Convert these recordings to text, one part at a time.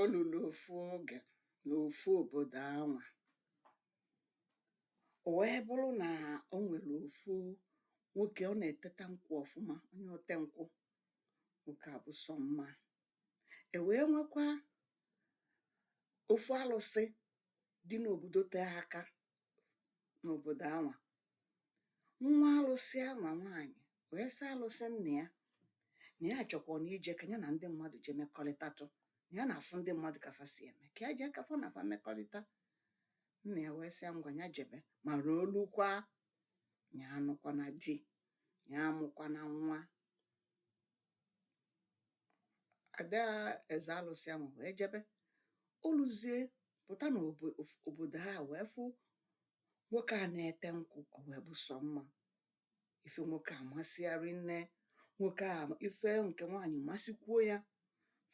O luru ofu oge n'ofu obodo anwa, o wee bụrụ na o nwere ofu nwoke ọ na-eteta nkwụ ọfụma, onye ote nkwụ, nwoke a bụ sọ mma. E wee nwekwa ofu alụsị dị n'obodo tee aka n'obodo anwa nwa alụsị anwa nwaanyị wee sị alụsị nna ya na ya chọkwa na ije ka ya na ndị mmadụ jee mekọrịtatụ na ya na-afụ ndị mmadụ ka fa si eme ka ya jee ka fa na fa mekọrịta nna ya wee sị ya ngwa ya jebe ma ruo olukwa ya anụkwana di ya amụkwana nwa ada eze alụsị ahụ wee jebe o luzie pụta na obodo ha wee fụ nwoke a na-ete nkwụ ọ wee bụ sọ mma ife nwoke a masị ya rinne nwoke a ife nke nwaanyị masịkwuo ya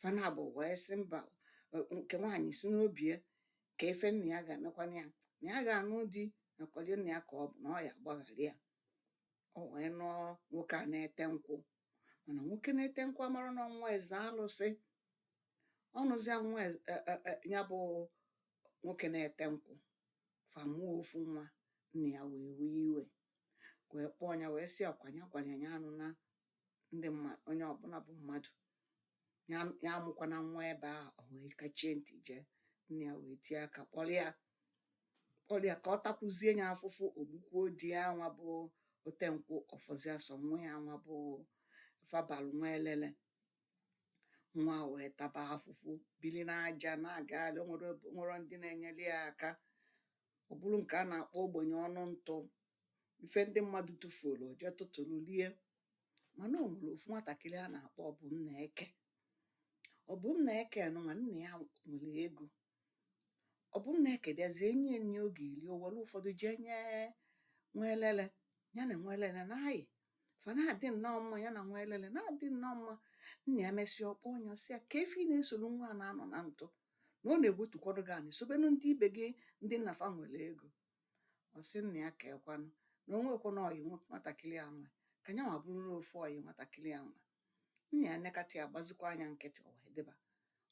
fa naabọ wee sị mba nke nwaanyị si n'obi ya kee ife nna ya ga-emekwanụ ya na ya ga-anụ di na kọlie nna ya ka ọ bụ na ọ ya agbaghara ya o wee nụọ nwoke a na-ete nkwụ mana nwoke na-ete nkwụ amarọ na ọ nwa eze alụsị ọ nụzịa nwa e- e- e- e- ya bụ nwoke na-ete nkwụ fa mụọ ofu nwa nna ya wee wee iwe wee kpọọ ya wee sị ọkwa ya gwara ya anụna ndị mmadụ onye ọbụla bụ mmadụ ya ya amụkwana nwa ebe a o wee kachie ntị jee nna ya wee tie aka kpọrọ ya kpọrọ ya ka ọ takwuzie ya afụfụ o gbukwuo di ya nwa bụ ote nkwụ ọ fọzịa sọ nwa ya nwa bụ fa balụ nwa elele nwa wee taba afụfụ bili n'aja na-agagharị o nwerọ ndị na-enyere ya aka ọ bụrụ nke a na-akpọ ogbenye ọnụ ntụ ife ndị mmadụ tụfuoro o jee tụtụrụ rie mana o nwere ofu nwatakịrị a na-akpọ Ọbụnnaeke Ọbụnnaeke nụnwa nna ya nwere ego Ọbụnnaeke bịazie nye ya nri ọ ga-eri o were ụfọdụ jee nye nwa elele ya na nwa elele na-ayị fa na-adị nnọọ mma ya na nwa elele na-adị nnọọ mma nna ya mesịa ọ kpọọ ya ọ sị ya kee ife ị na-esoro nwa a na-anọ na ntụ na ọ na-ewetukwọdụ gị anị sobenụ ndị ibe gị ndị nna fa nwere ego ọ sị nna ya keekwanụ na o nwekwanụ ọyị nwe- nwatakịrị a nwe ka nyanwa bụrụ na ofu ọyị nwatakịrị a nwe nna ya nekata ya gbazikwaa nya nkịtị o wee dịba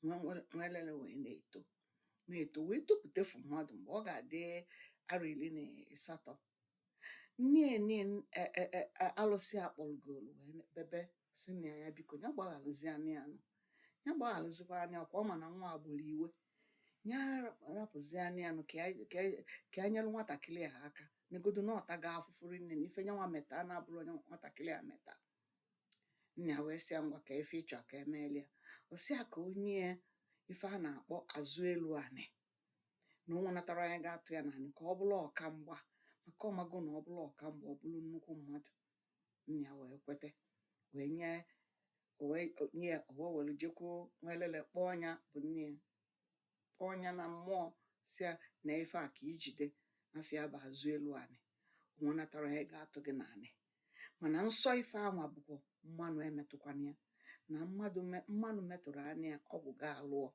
nwa- nwa- nwelele wee na-eto na-eto wee topụtefu mmadụ mgbe ọ ga-adị arọ iri na asatọ nni eni e- e- e- e- alụsị akpọrọgolu wee bebe sị nna ya biko ya gbagharụzia nya nụ ya gbagharụzikwa nya ka ọ ma na nwa agbụrụ iwe ya rapụzia nya nụ ka ya- ka ya- ka ya nyere nwatakịrị a aka negodu na ọ tago afụfụ rinne na ife nyanwa meta a na-abụrọ onye nwatakịrị a meta nna ya wee sị ya ngwa kaa ife ị chọ ka e meelu ya ọ sị ya ka o nye ya ife a na-akpọ azụ elu anị na o nwenatarọ onye ga-atụ ya n'anị ka ọ bụrụ ọka mgba maka ọ mago na ọ bụrụ ọka mgba ọ bụrụ nnukwu mmadụ nna ya wee kwete wee nye o wee nye ya o wee were jekwuo nwelele kpọọ nya bụ nne ya kpọọ nya na mmụọ sị ya na ife a ka i jide afa ya bụ azụ elu anị o nwenatarọ onye ga-atụ gị n'anị mana nsọ ife anwa bụkwa mmanụ emetụkwana ya na mmadụ mmanụ metụrụ anya ya ọgwụ ga-alụọ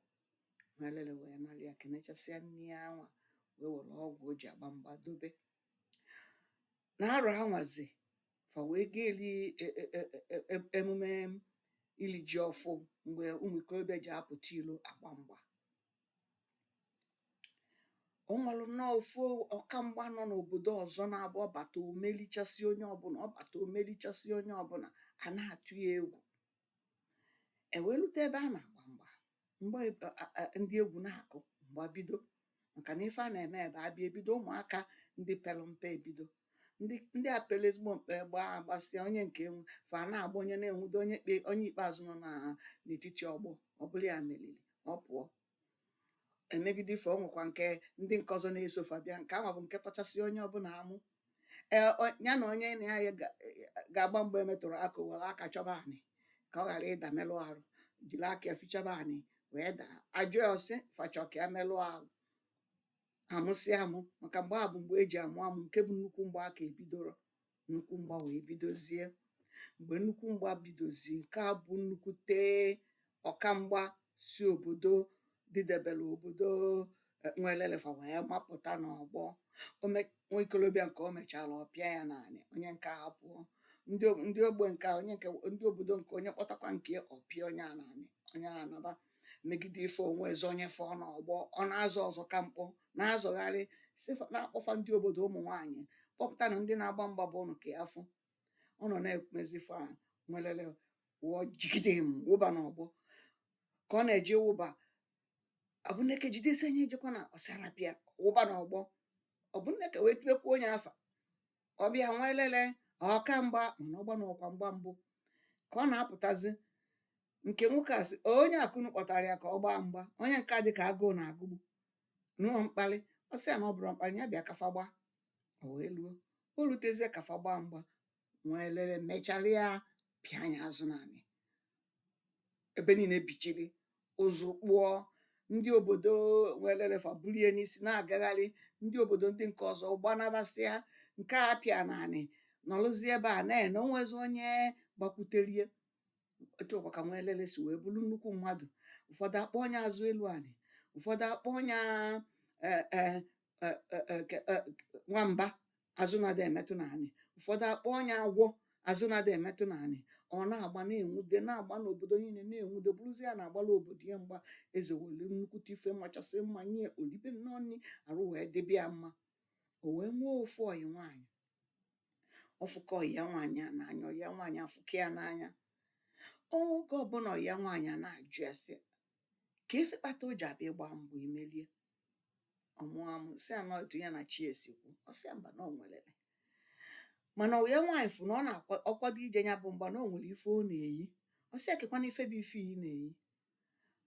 nwelele wee nara ya kenechasịa nne ya anwa wee were ọgwụ o ji agba mgba dobe na arọ anwazi fa wee ga eli e, e, e, emume ili ji ọfụụ mgbe ụmụ ikorobịa ji apụta ilo agba mgba o nwere nnọọ ofu ọkamgba nọ n'obodo ọzọ na-abụ ọ bata o melichasịa onye ọbụla ọ bata o melichasịa onye ọbụla a na-atụ ya egwu e wee lute ebe a na-agba mgba mgba ndị egwu na-akụ mgba bido maka na ife a na-eme ebe a bịa ebido ụmụaka ndị pere mpe ebido ndị ndị a pere ezigbo mpe gbaa a gbasịa onye nke enwe fa na-agba onye na-enwudo onye kpe onye ikpeazụ nọ na n'etiti ọgbọ ọ bụrụ ya meriri ọ pụọ e megide ife o nwekwa nke ndị nke ọzọ na-eso fa bịa nke ahụ bụ nke tọchasị onye ọbụla amụ ee o- ya na onye na ya ga- ga-agba mgbe e metụrụ aka o were aka chọba anị ka ọ ghara ịda melụ arụ jiri aka ya fichaba anị wee daa a jụọ ya ọ sị fa chọ ka ya melụ arụ a mụsịa amụ maka mgbe a bụ mgbe e ji amụ amụ nke bụ nnukwu mgba aka ebidorọ nnukwu mgba wee bidozie mgbe nnukwu mgba bidozie nke a bụ nnukwute ọkamgba si obodo dịdebere obodo eh, nwelele fa wee mapụta n'ọgbọ nwa ikolobịa nke o mechara ọ pịa ya n'anị onye nke a pụọ ndị ogbe nke onye nke ndị obodo nke onye kpọtakwa nke ọ pịa onye a n'anị onye a naba megide ife o nwezi onye fọ n'ọgbọ ọ na-azọ ọzọ ka mkpọ na-azọgharị sị fa na-akpọ fa ndị obodo ụmụ nwaanyị kpọpụtanụ ndị na-agba mgba be ụnụ ka ya fụ ọ nọ na-ekwumezi ife a nwelele wụọ jigidem wụba n'ọgbọ ka ọ na-eje ịwụba ọbụneke jide sị nya ejekwana ọ sị rapụ ya wụba n'ọgbọ ọbụneke wee tubekwa nya afa ọ bịa nwa elele ọka mgba mana ọgba n'ọkwa mgba mbụ ka ọ na-apụtazi nke nwoke a sị onye a ka unu kpọtara ya ka ọ gbaa mgba onye nke a dị ka agụụ na-agụgbu na ọ ọ mkpali ọ sị ya na ọ bụrụ mkpali ya bịa ka fa gbaa o wee luo o lutezie ka fa gbaa mgba nwa elele mechara ya pịa ya azụ n'anị ebe niile bichiri ụzụ kpụọ ndị obodo nwelele fa bulie ya n'isi na-agagharị ndị obodo ndị nke ọzọ gbanabasịa nke a pịa n'anị nọrụzie ebe a na-ene o nwezi onye gbakwutere ya etu a kwa ka nwa elele si wee bụrụ nnukwu mmadụ ụfọdụ akpọọ ya azụ elu anị ụfọdụ akpọọ ya e, e, e, e, e, ke- e, nwamba azụ na-adị emetụ n'anị ụfọdụ akpọọ ya agwọ azụ na-adị emetụ n'anị ọ na-agba na-enwude na-agba n'obodo niile na-enwude bụrụzi ya na-agbara obodo ya mgba eze were nnukwute ife machasị mma nye ya o libe nnọọ nri arụ wee dịbe ya mma o wee nwee ofu ọyị nwaanyị ọ fụka ọyị ya nwaanyị a n'anya ọyị ya nwaanyị afụka ya n'anya oge ọbụla ọyị ya nwaanyị a na-ajụ ya sị kee ife kpata o ji abụ ị gbaa mgba i melie ọ mụa amụ sị ya na otu ya na chi ya si kwu ọ sị ya mba na ọ nwelele mana ọyị ya nwaanyị fụ na ọ na-akwado ije ya bụ mgba na o nwere ife ọ na-eyi ọ sị ya kekwanụ ife bụ ife ị na-eyi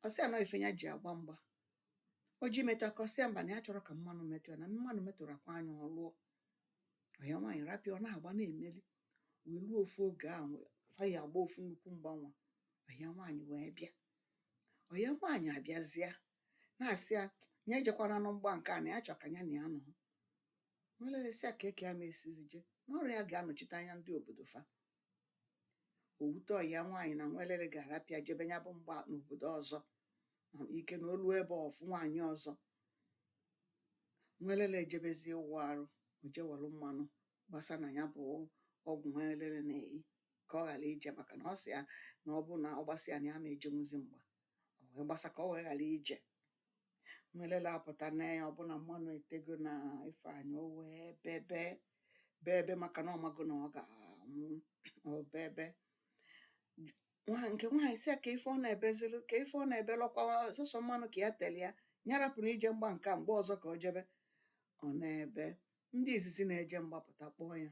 ọ sị ya na ife ya ji agba mgba o jee metụ aka ọ sị ya mba na ya achọrọ ka mmanụ metụ ya na mmanụ metụrụkwa ya ọ lụọ ọyị ya nwaanyị rapụ ya ọ na-agba na-emeli wee ruo ofu oge ahụ fa ya-agba ofu nnukwu mgba ọyị ya nwaanyị wee bịa ọyị ya nwaanyị abịazịa na-asị ya ya ejekwananụ mgba nke a na ya chọ ka ya na ya nọ nwelele sị ya kee ka ya ma esizi je na ọọrị ya ga-anọchite anya ndị obodo fa owute ọya nwaanyị na nwelele ga-arapụ ya jebe ya bụ mgba n'obodo ọzọ na ike na o luo ebe ọ fụ nwaanyị ọzọ nwelele ejebezie ịwụ arụ o je welụ mmanụ gbasa na ya bụ ọgwụ nwelele na-eyi ka ọ ghara ije maka na ọ sị ya na ọ bụ na ọ gbasa ya na ya ma ejenwuzi mgba o wee gbasa ka ọ wee ghara ije nwelele apụta nee ya ọ bụ na mmanụ etego na ife ọ na-eyi o wee bebe bebe maka na ọ mago na ọ ga-anwụ o bebe nwa nke nwaanyị sị ya kee ife ọ na-ebezilụ kee ife ọ na-ebelụ ọ kwa sọsọ mmanụ ka ya tere ya ya rapụnụ ije mgba nke a mgbe ọzọ ka o jebe ọ na-ebe ndị izizi na-eje mgba pụta kpọọ ya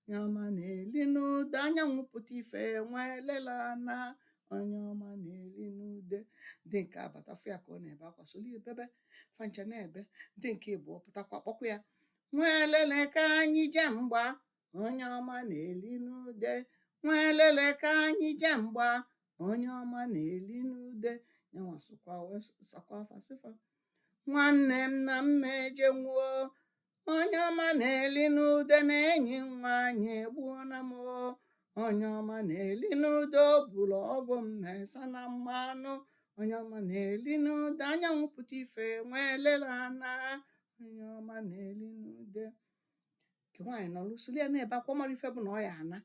onye ọma na-eli n'ude anyanwụ pụta ife nwa elele na onye ọma na-eli n'ude ndị nke a bata fụ ya ka ọ na-ebe akwa solu ya bebe fa ncha na-ebe ndị nke ịbụọ pụtakwa kpọkwa ya nwa elele ka anyị je mgba onye ọma na-eli n'ude nwa elele ka anyị je mgba onye ọma na-eli n'ude ya nwa sụkwa wee sakwa fa sị fa nwanne m na m ma ejenwu o onye ọma na-eli n'ude na enyi nwaanyị egbuo na m onye ọma na-eli n'ude o bulu ọgwụ m mesa na mmanụ onye ọma na-eli n'ude anyanwụ pụta ife nwelele ana onye ọma na-eli n'ude nke nwaanyị nọlụ solu ya na-ebe akwa mara ife bụ na ọ ya-ana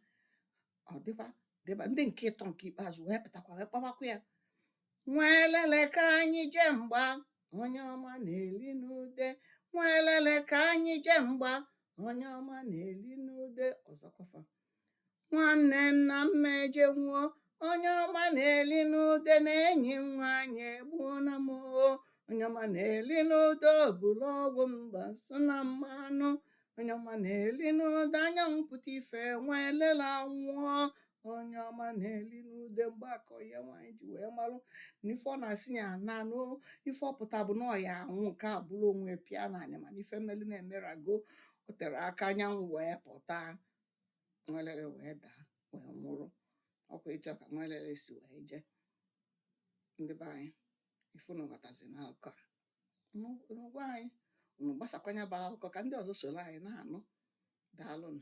ọ dịba dịba ndị nke ịtọ nke ikpeazụ wee pụtakwa wee kpawakwa ya nwelele ka anyị jee mgba onye ọma na-eli n'ude nwelele ka anyị jee mgba onye ọma na-eli n'ude ọzọkwafa nwanne m na m ma-ejenwu o onye ọma na-eli n'ude na enyi m nwaanyị egbuo na m oo onye ọma na-eli n'ude o bulu ọgwụ m gbasa na mmanụ onye ọma na-eli n'ude anyanwụ pụta ife nwelele anwụọ onye ọma na-eli n'ude mgbe akọ ya nwaanyị ji wee malụ na ife ọ na-asị ya ana na ife ọ pụta bụ na ọ ya-anwụ nke a bụrụ onwe pịa na anya mana ife melu na-emerago o tere aka anyanwụ wee pụta nwelele wee daa wee nwụrụ ọ kwa etu a ka nwelele si wee jee ndị be anyị ife unu ghọtazi na akụkọ a unu gwa anyị unu gbasakwa nya bụ akụkọ ka ndị ọzọ soro anyị na-anụ daalụnụ